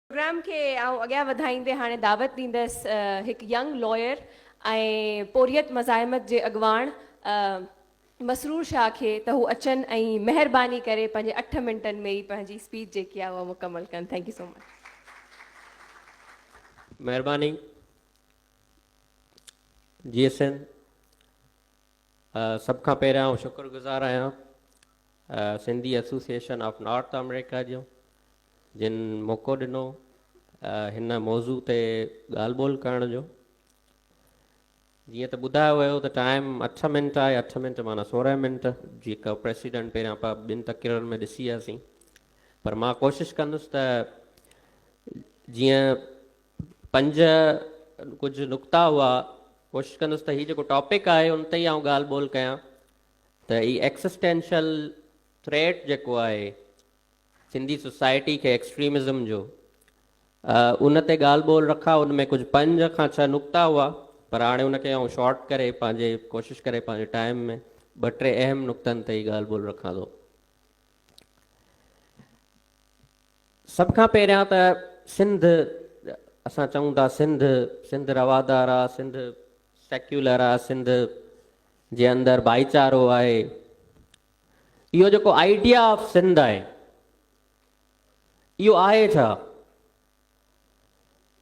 Programme کي آئون اڳيان وڌائيندي هاڻي دعوت ڏيندس هڪ ينگ لائر ۽ پورهيت مزاحمت جي اڳواڻ مسرور شاهه کي ته هو اچن ۽ مهرباني ڪري پنهنجي اٺ منٽن ۾ ئي پنهنجي اسپيچ جيڪي آهي اها مڪمل ڪن ٿينڪ يو سو مچ. مهرباني جي ايس اين سڀ کان پهريان آئون شڪر گذار آهيان Sindhi association of North America جو جن موقعو ڏنو هن موضوع تي ڳالهه ٻولهه ڪرڻ جو. جيئن ته ٻڌايو ويو ته ٽائيم اٺ منٽ آهي، اٺ منٽ معنيٰ سورهن منٽ، جيڪا پريسيڊنٽ پهريان پاء ٻن تقريرن ۾ ڏسي هياسين. پر مان ڪوشش ڪندس ته جيئن پنج ڪجهه نقطا هئا، ڪوشش ڪندس ته هي جيڪو ٽاپڪ آهي ان تي ئي آئون ڳالهه ٻولهه ڪيان ته هي ايڪسسٽينشل ٿريٽ جيڪو آهي سنڌي سوسائٽي کي ايڪسٽريمزم جو ان تي ڳالهه ٻولهه رکا ان ۾ ڪجهه پنج کان ڇهه نقطا هئا پر هاڻي ان کي آئون شارٽ ڪري پنهنجي ڪوشش ڪري پنهنجي ٽائيم ۾ ٻه ٽي اهم نقطن تي ئي ڳالهه ٻولهه رکان ٿو سڀ کان پهريان ته سنڌ اسان چون ٿا سنڌ سنڌ روادار آ سنڌ سيڪيولر آ سنڌ جي اندر ڀائيچارو آهي اهو جيڪو آئيڊيا آف سنڌ آهي اهو آهي ڇا؟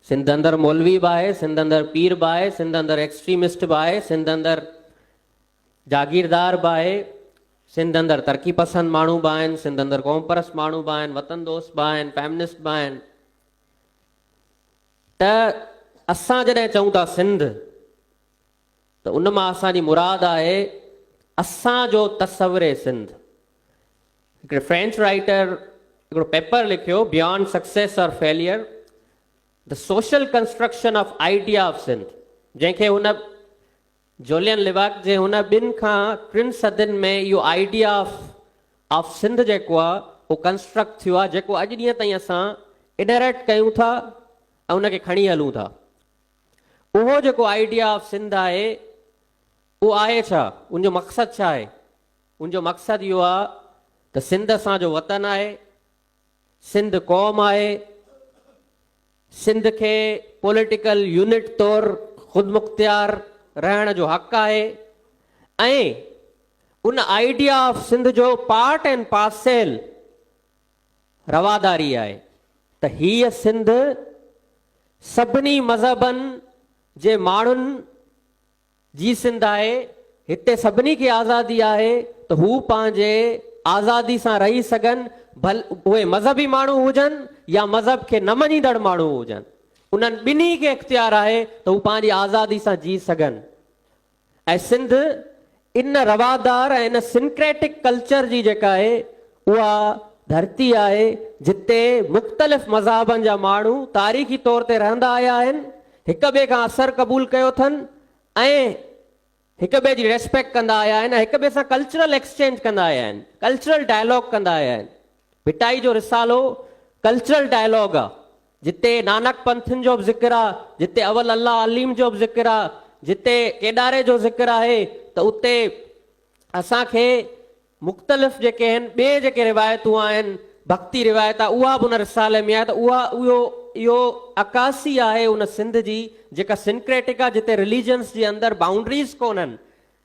سنڌ اندر مولوي به آهي سنڌ اندر پير به آهي سنڌ اندر ایڪسٽريمسٽ به آهي سنڌ اندر جاگيردار به آهي سنڌ اندر ترقي پسند ماڻهو به آهن سنڌ اندر قوم پرست ماڻهو به آهن وطن دوست به آهن فيمنسٽ به آهن ته اسان جڏهن چئون ٿا سنڌ ته ان مان اسان جي مراد آهي اسان جو تصور سنڌ. هڪڙي فرينچ رائيٽر هڪڙو پيپر لکيو Beyond Success or Failure، The Social Construction of Idea of Sindh، جنهن کي هن جولين ليواڪ جي هن ٻن کان ٽن صدين ۾ اهو آئيڊيا آف آف سنڌ جيڪو آهي اهو ڪنسٽرڪٽ ٿيو آهي جيڪو اڄ ڏينهن تائين اسان اڊهريٽ ڪيون ٿا ۽ ان کي کڻي هلون ٿا. اهو جيڪو آئيڊيا آف سنڌ آهي اهو آهي ڇا؟ ان جو مقصد ڇا آهي؟ ان جو مقصد اهو آهي ته سنڌ اسان جو وطن آهي، سنڌ قوم آهي، سنڌ کي پوليٽيڪل يونٽ طور خودمختيار رهڻ جو حق آهي ۽ ان آئيڊيا آف سنڌ جو پارٽ اينڊ پارسيل رواداري آهي ته هيء سنڌ سڀني مذهبن جي ماڻهن جي سنڌ آهي، هتي سڀني کي آزادي آهي ته هو پنهنجي آزادي سان رهي سگهن، ڀل اهي مذهبي ماڻهو هجن يا مذهب کي نه مڃيندڙ ماڻهو هجن، انهن ٻنهي کي اختيار آهي ته هو پنهنجي آزادي سان جي سگهن. ۽ سنڌ ان روادار ۽ ان سنڪريٽڪ ڪلچر جي جيڪا آهي اها ڌرتي آهي جتي مختلف مذاهبن جا ماڻهو تاريخي طور تي رهندا آيا آهن هڪ ٻئي کان اثر قبول ڪيو اٿن ۽ هڪ ٻئي جي ريسپيڪٽ ڪندا آيا آهن ۽ هڪ ٻئي سان ڪلچرل ايڪسچينج ڪندا آيا آهن ڪلچرل ڊائلاگ ڪندا آيا آهن ڀٽائي جو رسالو ڪلچرل ڊائلاگ آ. جتي نانڪ پنٿين جو به ذڪر آ، جتي اول الله عليم جو به ذڪر آ، جتي ڪيڏاري جو ذڪر آهي ته اتي اسان کي مختلف جيڪي آهن ٻي جيڪي روايتون آهن، ڀڳتي روايت آ اها به ان رسالي ۾ آهي ته اها اهو اهو عڪاسي آهي ان سنڌ جي جيڪا سنڪريٽڪ آ جتي رليجنس جي اندر بائونڊريز ڪونهن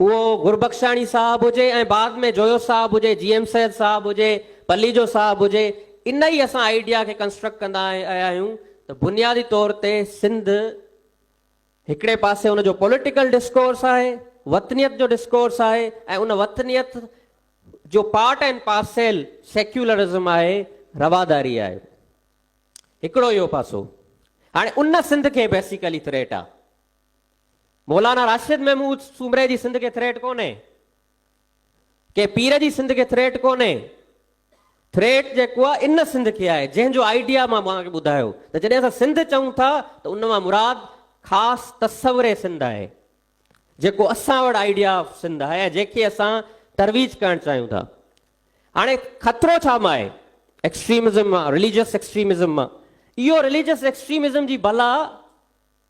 اهو گربخشاڻي صاحب هجي ۽ بعد ۾ جويو صاحب هجي، جي ايم سيد صاحب هجي، پليجو صاحب هجي، ان ئي اسان آئيڊيا کي ڪنسٽرڪٽ ڪندا آيا آهيون ته بنيادي طور تي سنڌ هڪڙي پاسي ان جو پوليٽيڪل ڊسڪورس آهي، وطنيت جو ڊسڪورس آهي ۽ ان وطنيت جو پارٽ اينڊ پارسيل سيڪيولرزم آهي، رواداري آهي. هڪڙو اهو پاسو. هاڻي ان سنڌ کي بيسيڪلي ٿريٽ آهي. مولانا راشد محمود سومري جي سنڌ کي ٿريٽ ڪونهي. ڪنهن پير جي سنڌ کي ٿريٽ ڪونهي. ٿريٽ جيڪو آهي ان سنڌ کي آهي جنهن جو آئيڊيا مان اوهان کي ٻڌايو ته جڏهن اسان سنڌ چئون ٿا ته ان مان مراد خاص تصور سنڌ آهي جيڪو اسان وٽ آئيڊيا آف سنڌ آهي ۽ جنهن کي اسان ترويج ڪرڻ چاهيون ٿا. هاڻي خطرو ڇا مان آهي؟ ايڪسٽريمزم مان، رليجس ايڪسٽريمزم مان. اهو رليجس ايڪسٽريمزم جي بلا.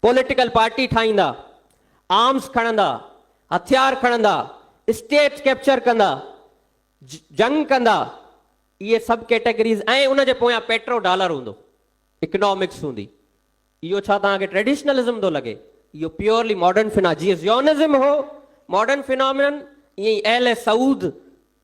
پوليٽيڪل پارٽي ٺاهيندا، آرمز کڻندا، هٿيار کڻندا، اسٽيٽس ڪيپچر ڪندا، جنگ ڪندا، اهي سب ڪيٽيگريز ۽ ان جي پويان پيٽرو ڊالر هوندو، اڪنامڪس هوندي. اهو ڇا توهان کي ٽريڊيشنلزم ٿو لڳي؟ اهو پيورلي ماڊرن فنا جيئن زيونزم هو ماڊرن فنامنن ائين ئي اهل سعود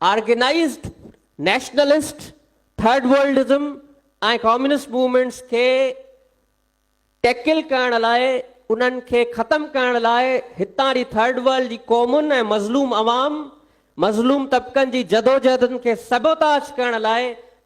organised nationalist, third worldism ۽ communist movements کي ٽيڪل ڪرڻ لاء انهن کي ختم ڪرڻ لاء هتان جي ٿرڊ ورلڊ جي قومن ۽ مظلوم عوام، مظلوم طبقن جي جدوجهدن کي سبوتاش ڪرڻ لاء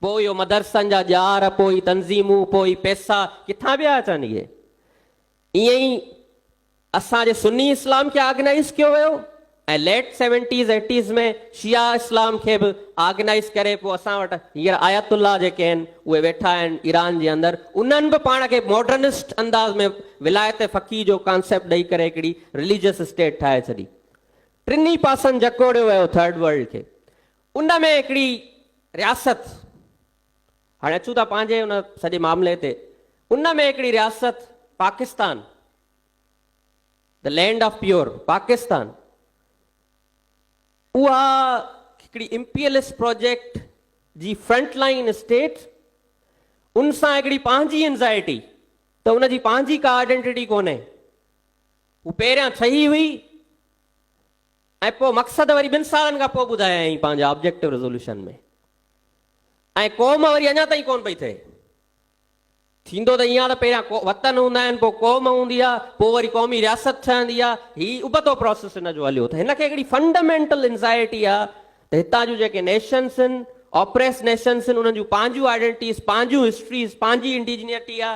پوء اهو مدرسن جا ڄار، پوء تنظيمون، پوء پئسا ڪٿان پيا اچن؟ اهي ائين ئي اسان جي سني اسلام کي آرگنائيز ڪيو ويو ۽ ليٽ سيونٽيز ايٽيز ۾ شيعا اسلام کي به آرگنائيز ڪري پوء اسان وٽ هينئر آيت الله جيڪي آهن اهي ويٺا آهن ايران جي اندر انهن به پاڻ کي ماڊرنسٽ انداز ۾ ولايت فقيه جو ڪانسيپٽ ڏئي ڪري هڪڙي رليجس اسٽيٽ ٺاهي ڇڏي ٽنهي پاسن جڪوڙيو ويو ٿرڊ ورلڊ کي ان ۾ هڪڙي رياست، هاڻي اچون ٿا پنهنجي ان سڄي معاملي تي، ان ۾ هڪڙي رياست Pakistan, The Land of Pure Pakistan، اها هڪڙي امپيلس پروجيڪٽ جي فرنٽ لائين اسٽيٽ، ان سان هڪڙي پنهنجي انزائٽي ته ان جي پنهنجي ڪا آئيڊينٽيٽي ڪونهي، هو پهريان ٺهي هئي، ۽ پوء مقصد وري ٻن سالن کان پوء ٻڌايائين پنهنجا آبجيڪٽو ريزوليوشن ۾ ۽ قوم وري اڃا تائين ڪونه پئي ٿئي. ٿيندو ته ائين آ ته پهريان وطن هوندا آهن پوء قوم هوندي آ پوء وري قومي رياست ٺهندي آ هي ابتو پراسيس هن جو هليو ته هن کي هڪڙي فنڊامينٽل انزائيٽي آ ته هتان جون جيڪي نيشنس هن آپريس نيشنس هن انهن جون پنهنجون آئيڊينٽيز پنهنجون هسٽريز پنهنجي انڊيجنيٽي آ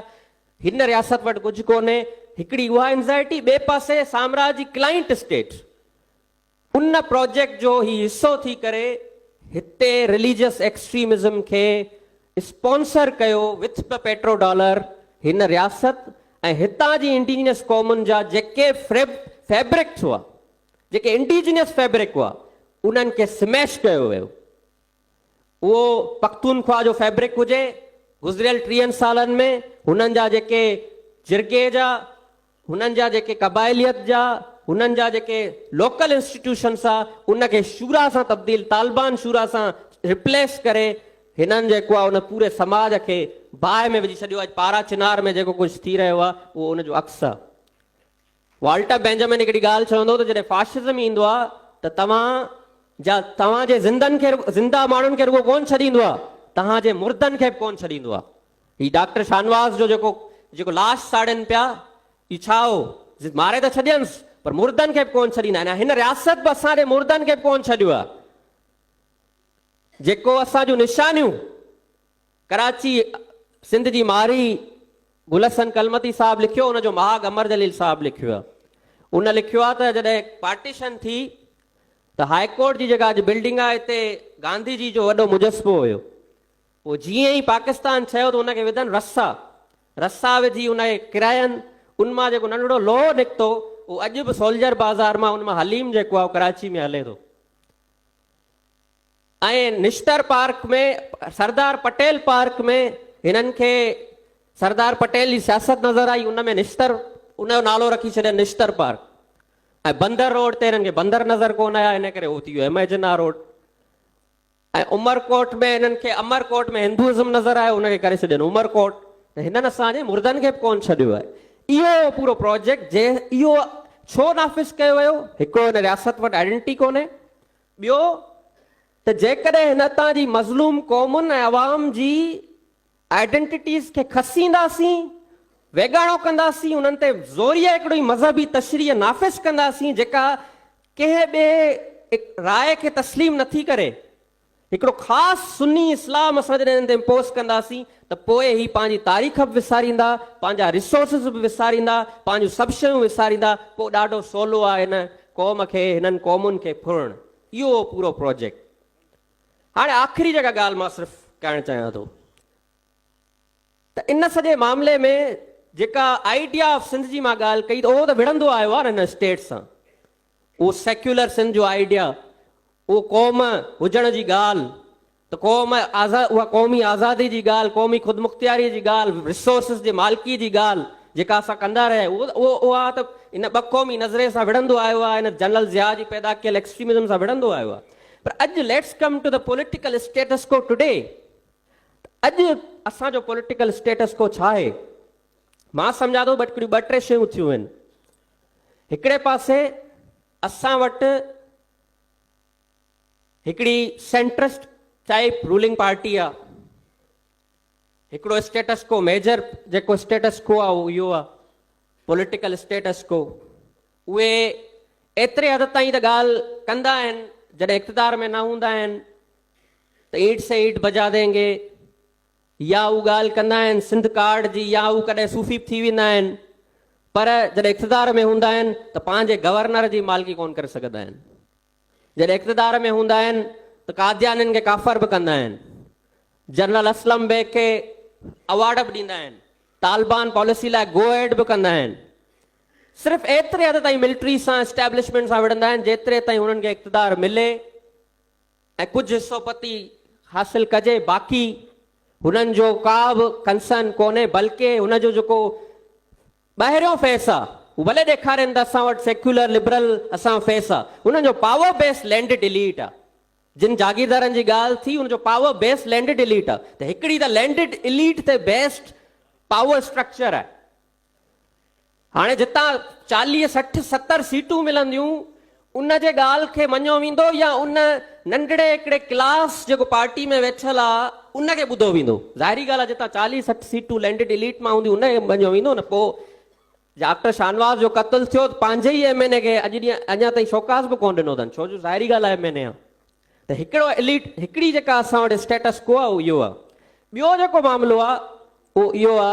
هن رياست وٽ ڪجهه ڪونهي، هڪڙي اها انزائٽي، ٻئي پاسي سامرا جي ڪلائنٽ اسٽيٽ ان پراجيڪٽ جو هي حصو ٿي ڪري هتي رليجس ايڪسٽريمزم کي اسپانسر ڪيو وٿ پ پيٽرو ڊالر هن رياست ۽ هتان جي انڊيجنس قومن جا جيڪي فريب فيبرڪس هئا جيڪي انڊيجنس فيبرڪ هئا انهن کي سميش ڪيو ويو اهو پختونخوا جو فيبرڪ هجي، گذريل ٽيهن سالن ۾ هنن جا جيڪي جرڳي جا، هنن جا جيڪي قبائليت جا، هنن جا جيڪي لوڪل انسٽيٽيوشنس آ، ان کي شورا سان تبديل، طالبان شورا سان ريپليس ڪري، هنن جيڪو آ ان پوري سماج کي باهه ۾ وجهي ڇڏيو آ. اڄ پارا چنار ۾ جيڪو ڪجهه ٿي رهيو آ، اهو ان جو عڪس آ. والٽر بينجامن هڪڙي ڳالهه چوندو ته جڏهن فاشزم ايندو آهي ته توهان جا توهان جي زندن کي زنده ماڻهن کي رڳو ڪونه ڇڏيندو آهي توهان جي مردن کي به ڪونه ڇڏيندو آهي هي ڊاڪٽر شاهنواز جو جيڪو جيڪو لاش ساڙين پيا اهو ڇا هو ماري ته ڇڏينس پر مردن کي به ڪونه ڇڏيندا آهن هن رياست به اسان جي مردن کي به ڪونه ڇڏيو آهي جيڪو اسان جون نشانيون ڪراچي، سنڌ جي مارئي گل حسن ڪلمتي صاحب لکيو ان جو مهاڳ امر جليل صاحب لکيو آهي ان لکيو آهي ته جڏهن پارٽيشن ٿي ته هاء ڪورٽ جي جيڪا اڄ بلڊنگ آهي اتي گانڌي جي جو وڏو مجسمو هيو پوء جيئن ئي پاڪستان ٺهيو ته ان کي وڌن رسا رسا وڌي ان کي ڪراين ان مان جيڪو ننڍڙو لوهو نڪتو اهو اڄ به سولجر بازار مان ان مان حليم جيڪو آهي ڪراچي ۾ هلي ٿو ۽ نشتر پارڪ ۾ سردار پٽيل پارڪ ۾ هنن کي سردار پٽيل جي سياست نظر آئي ان ۾ نشتر ان جو نالو رکي ڇڏيو نشتر پارڪ ۽ بندر روڊ تي هنن کي بندر نظر ڪون آيا ان ڪري هو ٿي ويو اميجنا روڊ ۽ عمرڪوٽ ۾ هنن کي امرڪوٽ ۾ هندوازم نظر آيو ان کي ڪري ڇڏين عمرڪوٽ ته هنن اسان جي مردن کي به ڪون ڇڏيو آهي اهو پورو پروجيڪٽ جنهن اهو ڇو نافذ ڪيو ويو هڪڙو هن رياست وٽ آئيڊنٽي ڪونهي ٻيو ته جيڪڏهن هن اتان جي مظلوم قومن ۽ عوام جي آئيڊنٽيٽيز کي کسينداسين، ويڳاڻو ڪنداسين، انهن تي زوريء هڪڙي مذهبي تشريح نافذ ڪنداسين جيڪا ڪنهن ٻئي راء کي تسليم نٿي ڪري، هڪڙو خاص سني اسلام اسان جڏهن هنن تي امپوز ڪنداسين ته پوء هي پنهنجي تاريخ به وساريندا، پنهنجا ريسورسز به وساريندا، پنهنجون سڀ شيون وساريندا، پوء ڏاڍو سولو آهي هن قوم کي، هنن قومن کي ڦرڻ. اهو هو پورو پروجيڪٽ. هاڻي آخري جيڪا ڳالهه مان صرف ڪهڻ چاهيان ٿو ته ان سڄي معاملي ۾ جيڪا آئيڊيا آف سنڌ جي مان ڳالهه ڪئي ته اهو ته وڙهندو آيو آهي نه هن اسٽيٽ سان. اهو سيڪيولر سنڌ جو آئيڊيا، اهو قوم هجڻ جي ڳالهه ته قوم آزاد اها قومي آزادي جي ڳالهه، قومي خودمختياري جي ڳالهه، رسورسز جي مالڪي جي ڳالهه جيڪا اسان ڪندا رهيا آهيون اهو اها ته ان ٻه قومي نظرئي سان وڙهندو آيو آهي ان جنرل ضياء جي پيدا ڪيل ايڪسٽريمزم سان وڙهندو آيو آهي پر اڄ ليٽس ڪم ٽو ته پوليٽيڪل اسٽيٽس ڪو ٽوڊي اڄ اسان جو پوليٽيڪل اسٽيٽس ڪو ڇا آهي مان سمجهان ٿو ٻه ٽي شيون ٿيون آهن. هڪڙي پاسي اسان وٽ هڪڙي سينٽرسٽ ٽائيپ رولنگ پارٽي آ هڪڙو اسٽيٽس ڪو ميجر جيڪو اسٽيٽس ڪو آ اهو آ پوليٽيڪل اسٽيٽس ڪو اهي ايتري حد تائين ته ڳالهه ڪندا آهن جڏهن اقتدار ۾ نه هوندا آهن ته ايٽ سي ايٽ بجا دينگي ياهو ڳالهه ڪندا آهن سنڌ ڪارڊ جي ياهو ڪڏهن صوفي به ٿي ويندا آهن پر جڏهن اقتدار ۾ هوندا آهن ته پنهنجي گورنر جي مالڪي ڪونه ڪري سگهندا آهن جڏهن اقتدار ۾ هوندا آهن ته قاديانين کي ڪافر به ڪندا آهن جنرل اسلم بيگ کي اوارڊ به ڏيندا آهن طالبان پاليسي لاء گو اهيڊ به ڪندا آهن صرف ايتري حد تائين ملٽري سان اسٽيبلشمينٽ سان وڙهندا آهن جيتري تائين هنن کي اقتدار ملي ۽ ڪجهه حصو پتي حاصل ڪجي باقي هنن جو ڪا به ڪنسرن ڪونهي بلڪه هن جو جيڪو ٻاهريون فيس آ هو ڀلي ڏيکارين ته اسان وٽ سيڪيولر لبرل اسان فيس آ هنن جو پاور بيس لينڊ ڊيليٽ آ جن جاگيردارن جي ڳالهه ٿي ان جو پاور بيس لينڊ ڊيليٽ آ ته هڪڙي ته لينڊ ڊيليٽ تي بيسڊ پاور اسٽرڪچر آهي هاڻي جتان چاليهه سٺ ستر سيٽون ملنديون ان جي ڳالهه کي مڃيو ويندو يا ان ننڍڙي هڪڙي ڪلاس جيڪو پارٽي ۾ ويٺل آ ان کي ٻڌو ويندو ظاهري ڳالهه آ جتان چاليهه سٺ سيٽون لينڊڊ اليٽ مان هونديون ان کي مڃيو ويندو نه پو ڊاڪٽر شاهنواز جو قتل ٿيو ته پنهنجي ئي ايم اين اي کي اڄ ڏينهن اڃا تائين شوڪاز به ڪونه ڏنو اٿن ڇو جو ظاهري ڳالهه آ ايم اين اي آ ته هڪڙو اليٽ هڪڙي جيڪا اسان وٽ اسٽيٽس ڪو آ اهو اهو آ ٻيو جيڪو معاملو آ اهو اهو آ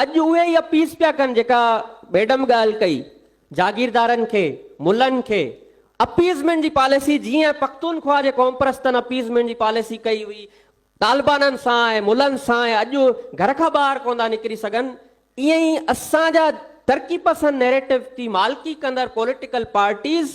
اڄ اهي ئي اپيس پيا ڪن جيڪا ميڊم ڳالهه ڪئي، جاگيردارن کي، ملن کي اپيزمينٽ جي پاليسي جيئن پختونخواهه جي قومپرستن اپيزمينٽ جي پاليسي ڪئي هئي، طالبانن سان ۽ ملن سان اڄ گهر کان ٻاهر ڪونه ٿا نڪري سگهن، ايئن ئي اسان جا ترقي پسند نيريٽو تي مالڪي ڪندڙ پوليٽيڪل پارٽيز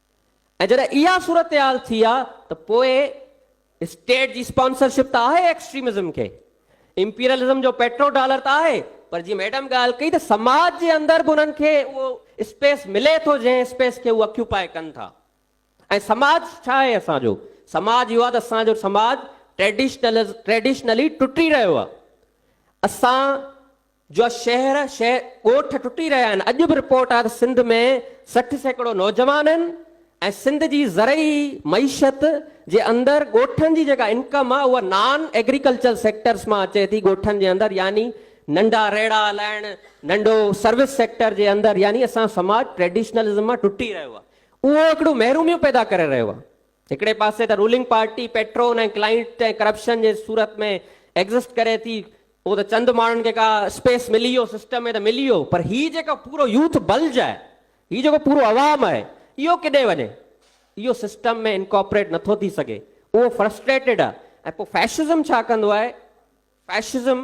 ۽ جڏهن اها صورتحال ٿي آ ته پوء اسٽيٽ جي اسپانسرشپ ته آهي ايڪسٽريمزم کي، امپيرلزم جو پيٽرو ڊالر ته آهي پر جيئن ميڊم ڳالهه ڪئي ته سماج جي اندر به انهن کي اهو اسپيس ملي ٿو جنهن اسپيس کي هو اڪيوپائي ڪن ٿا ۽ سماج ڇا آهي اسان جو سماج اهو آ ته اسان جو سماج ٽريڊيشنلز ٽريڊيشنلي ٽٽي رهيو آ اسان جو شهر شهر ڳوٺ ٽٽي رهيا آهن اڄ به رپورٽ آهي ته سنڌ ۾ سٺ سيڪڙو نوجوان آهن ۽ سنڌ جي زرعي معيشت جي اندر ڳوٺن جي جيڪا انڪم آهي اها نان ايگريڪلچر سيڪٽرس مان اچي ٿي ڳوٺن جي اندر يعني ننڍا ريڙها هلائڻ ننڍو سروس سيڪٽر جي اندر يعني اسان سماج ٽريڊيشنلزم مان ٽٽي رهيو آهي اهو هڪڙو محروميون پيدا ڪري رهيو آهي. هڪڙي پاسي ته ruling party patron ۽ client ۽ corruption جي صورت ۾ ايگزسٽ ڪري ٿي اهو ته چند ماڻهن کي ڪا اسپيس ملي ويو سسٽم ۾ ته ملي ويو پر هي جيڪو پورو يوٿ بلج آهي هي جيڪو پورو عوام آهي اهو ڪيڏي وڃي اهو سسٽم ۾ انڪاپريٽ نٿو ٿي سگهي اهو فرسٽريٽيڊ آهي ۽ پوء فيشزم ڇا ڪندو آهي فيشزم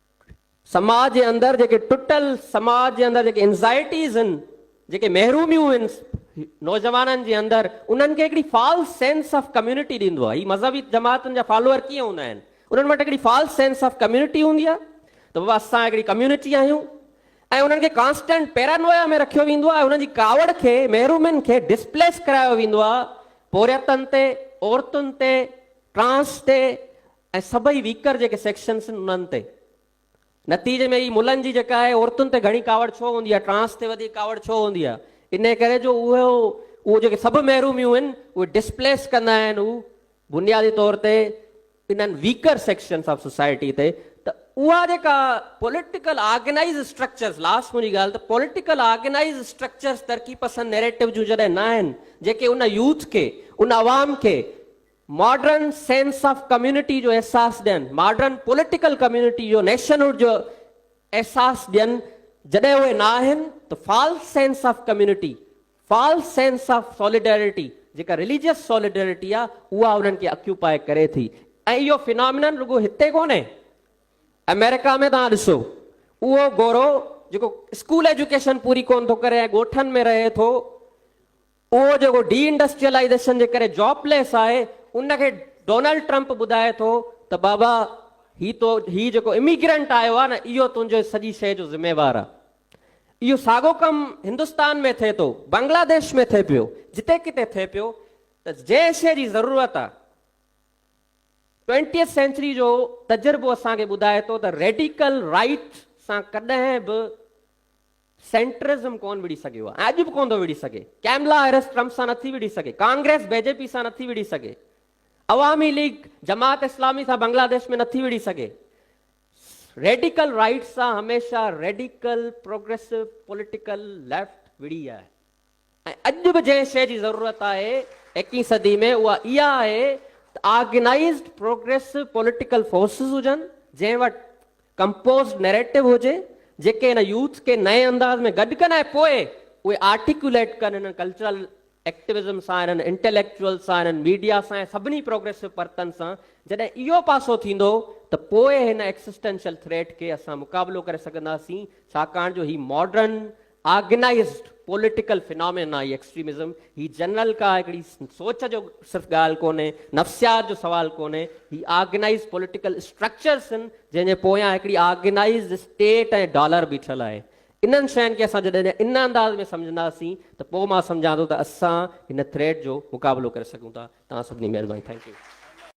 سماج جي اندر جيڪي ٽٽل سماج جي اندر جيڪي انزائيٽيز هن جيڪي محروميون هن نوجوانن جي اندر انهن کي هڪڙي فالس سينس آف ڪميونٽي ڏيندو آهي هي مذهبي جماعتن جا فالوور ڪيئن هوندا آهن انهن وٽ هڪڙي فالس سينس آف ڪميونٽي هوندي آهي ته بابا اسان هڪڙي ڪميونٽي آهيون ۽ انهن کي ڪانسٽنٽ پيرانويا ۾ رکيو ويندو آهي انهن جي ڪاوڙ کي محرومين کي ڊسپليس ڪرايو ويندو آهي پورهيتن تي عورتن تي ٽرانس تي ۽ سڀئي ويڪر جيڪي سيڪشنس آهن انهن تي. نتيجي ۾ هي ملن جي جيڪا آهي عورتن تي گهڻي ڪاوڙ ڇو هوندي آهي، ٽرانس تي وڌيڪ ڪاوڙ ڇو هوندي آهي، انهي ڪري جو اهو اهو جيڪي سڀ محروميون آهن اهي ڊسپليس ڪندا آهن هو بنيادي طور تي انهن ويڪر سيڪشنس آف سوسائٽي تي ته اها جيڪا پوليٽيڪل آرگنائيز اسٽرڪچرس لاسٽ منهنجي ڳالهه ته پوليٽيڪل آرگنائيز اسٽرڪچرس ترقي پسند نيريٽو جون جڏهن نه آهن جيڪي ان يوٿ کي ان عوام کي ماڊرن سينس آف ڪميونٽي جو احساس ڏين، ماڊرن پوليٽيڪل ڪميونٽي جو نيشنهوڊ جو احساس ڏين، جڏهن اهي نه آهن ته false sense of community, false sense of solidarity جيڪا رليجيس سوليڊريٽي آهي اها انهن کي اڪيوپائي ڪري ٿي ۽ اهو فينامينن رڳو هتي ڪونهي آمريڪا ۾ توهان ڏسو اهو گورو جيڪو اسڪول ايجوڪيشن پوري ڪونه ٿو ڪري ۽ ڳوٺن ۾ رهي ٿو اهو جيڪو ڊي انڊسٽريلائيزيشن جي ڪري جاب ليس آهي ان کي ڊونلڊ ٽرمپ ٻڌائي ٿو ته بابا هي تو هي جيڪو اميگرنٽ آيو آهي نه اهو تنهنجي سڄي شيء جو ذميوار آهي. اهو ساڳو ڪم هندستان ۾ ٿئي ٿو، بنگلاديش ۾ ٿئي پيو، جتي ڪٿي ٿئي پيو ته جنهن شيء جي ضرورت آهي ٽوئنٽيٿ سينچري جو تجربو اسان کي ٻڌائي ٿو ته ريڊيڪل رائيٽ سان ڪڏهن به سينٽرزم ڪونه وڙهي سگهيو آهي ۽ اڄ به ڪونه ٿو وڙهي سگهي. ڪئملا هيرس ٽرمپ سان نٿي وڙهي سگهي، ڪانگريس بي جي پي سان نٿي وڙهي سگهي، عوامي ليگ جماعت اسلامي سان بنگلاديش ۾ نٿي وڙهي سگهي. ريڊيڪل رائيٽ سان هميشه ريڊيڪل پروگريسو پوليٽيڪل ليفٽ وڙهي آهي. ۽ اڄ به جنهن شيء جي ضرورت آهي ايڪيهين صدي ۾ اها اها آهي ته آرگنائيزڊ پروگريسو پوليٽيڪل فورسز هجن جنهن وٽ ڪمپوزڊ نيريٽو هجي جيڪي هن يوٿ کي نئين انداز ۾ گڏ ڪن ۽ پوء اهي آرٽيڪيوليٽ ڪن هنن ڪلچرل ايڪٽيوزم سان هنن انٽيليڪچوئلز سان هنن ميڊيا سان ۽ سڀني پروگريسو پرتن سان جڏهن اهو پاسو ٿيندو ته پوء هن ايڪسسٽينشل ٿريٽ کي اسان مقابلو ڪري سگهنداسين ڇاڪاڻ جو هي ماڊرن آرگنائيزڊ پوليٽيڪل فنامينا آهي ايڪسٽريمزم، هي جنرل ڪا هڪڙي سوچ جو صرف ڳالهه ڪونهي، نفسيات جو سوال ڪونهي، هي آرگنائيزڊ پوليٽيڪل اسٽرڪچرز هن جنهن جي پويان هڪڙي آرگنائيزڊ اسٽيٽ ۽ ڊالر بيٺل آهي. انهن شين کي اسان جڏهن ان انداز ۾ سمجهنداسين ته پوء مان سمجهان ٿو ته اسان هن ٿريٽ جو مقابلو ڪري سگهون ٿا. توهان سڀني مهرباني ٿينڪ يو.